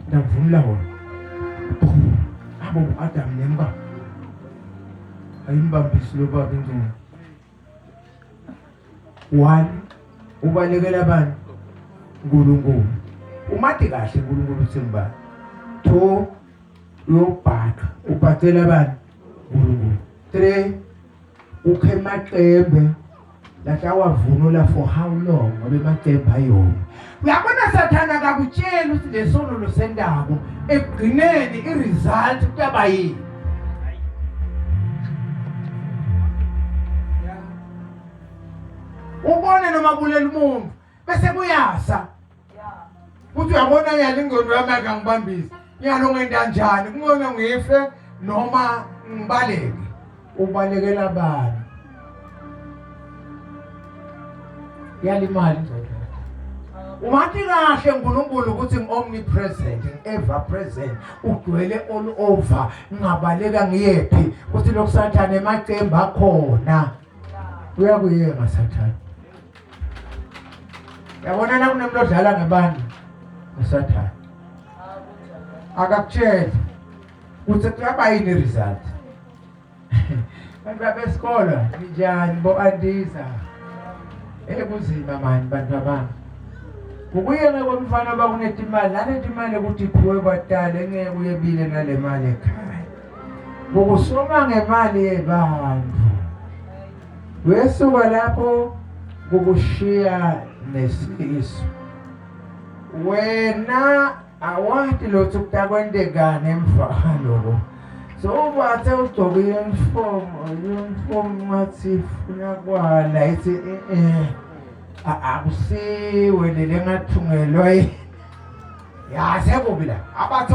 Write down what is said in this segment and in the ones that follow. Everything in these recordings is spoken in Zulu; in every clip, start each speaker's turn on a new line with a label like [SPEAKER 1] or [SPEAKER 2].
[SPEAKER 1] ndakuvumla wona abo uAdam nemba ayimbambisi lobaba ingcinga one ubalekela abantu uNkulunkulu umade kahle uNkulunkulu uthemba two uyobhaqa ubhacela abantu uNkulunkulu three ukhe maqembe Like awavunula for how long ngoba emacembe ayona. Uyabona sathana akakutsheli ukuthi lesono losendako ekugcineni iresult kuyaba yini. Ubone noma kulela umuntu bese kuyasa Uthi uyabona yena ingqondo yami akangibambisi. Nyalo ngenda njani? Kungcono ngife noma ngibaleke. Ubalekela bani? Yalimali ingqondo. Wathi kahle uNkulunkulu ukuthi ngiomnipresent, ever present, ugcwele all over, ngingabaleka ngiyephi ukuthi lokusathane emacembu akhona. Uyakuyeka sathane. yabona la kunemntu odlala ngebandla usathane akakutshela ukuthi kuyaba yini i-result bantu babesikolo ninjani bo-andiza ekunzima mani bantu babami ukuyena komfana oba kuneti imali naneti imali ukuthi iphiwe kwadala engeke uyebile nale mali ekhaya ngokusoma ngemali yebantu Wesuka lapho kukushiya nesifiso. Wena awati lutho kutakwendekani emva kwaloko. So ubathe ugcoke uniform, uniform wathi funa kwala ithi eh akusiwe lele ngathungelwa yase kubi la abathe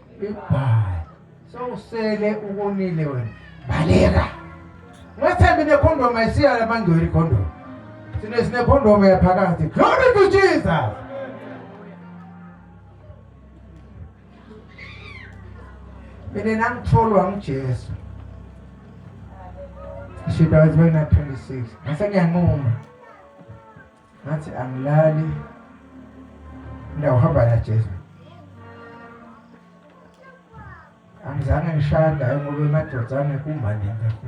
[SPEAKER 1] Goodbye. Sowusele ukonile wena. Baleka. Ngathembi nekhondomu ayisiya lamangcwele ikhondomu. Sine sine khondomu yaphakathi. Glory to Jesus. Mina nangitholwa nguJesu. She died when I was 26. Ngase ngiyanquma. ngathi angilali ngiyahamba la Jesu angizange ngishada ngoba emadodana kumane ngakho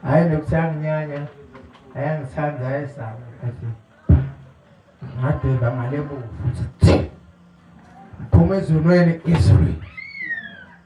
[SPEAKER 1] hayi lokuthi anginyanya ayangithanda ayesaba athi ngadeba ngale buku futhi phuma ezulwini izulu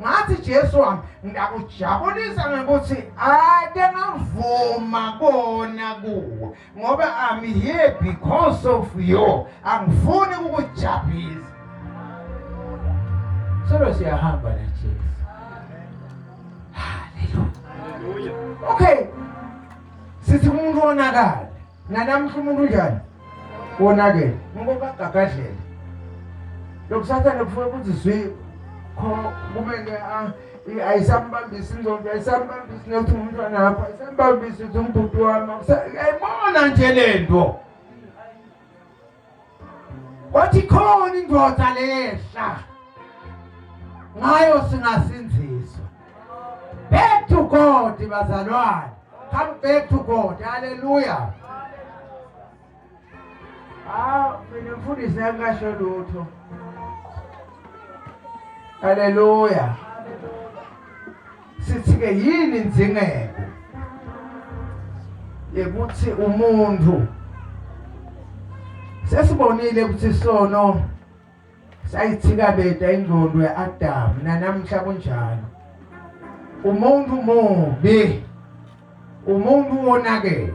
[SPEAKER 1] ngathi Jesu wami ngiyakujabulisa ngokuthi ade ngavuma kona kuwe ngoba I'm here because of you angifuni ukujabulisa solo siyahamba na Jesu haleluya okay sithi umuntu onakala Nanamuhla umuntu unjani? Wonakele. Ngoba gagadlela. Lokusatha nokufuna ukuthi zwi kho kumele ah ayisambambisi inzondo ayisambambisi nokuthi umntwana wakho ayisambambisi ukuthi umbhuti wami ayibona nje le nto wathi khona indoda lehla ngayo singasinziswa back to god bazalwane come back to god hallelujah Ah, mina mfundisi akasho lutho. Hallelujah. Sithi-ke yini inzingeko yekuthi umuntu sesibonile ukuthi sono sayithikabeta ingqondo ya-adamu nanamhla kunjalo umuntu mubi umuntu wonakele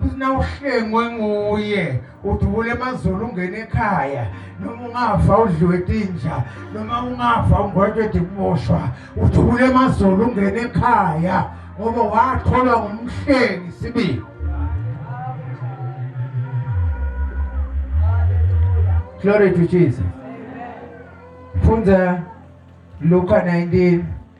[SPEAKER 1] futhi na uhlengwe nguye udubula emazulu ungena ekhaya noma ungafa udliwe tinja noma ungafa ungwetshwe dikuboshwa udubula emazulu ungena ekhaya ngoba watholwa ngumhlengi sibili Glory to Jesus. Funza Luka 19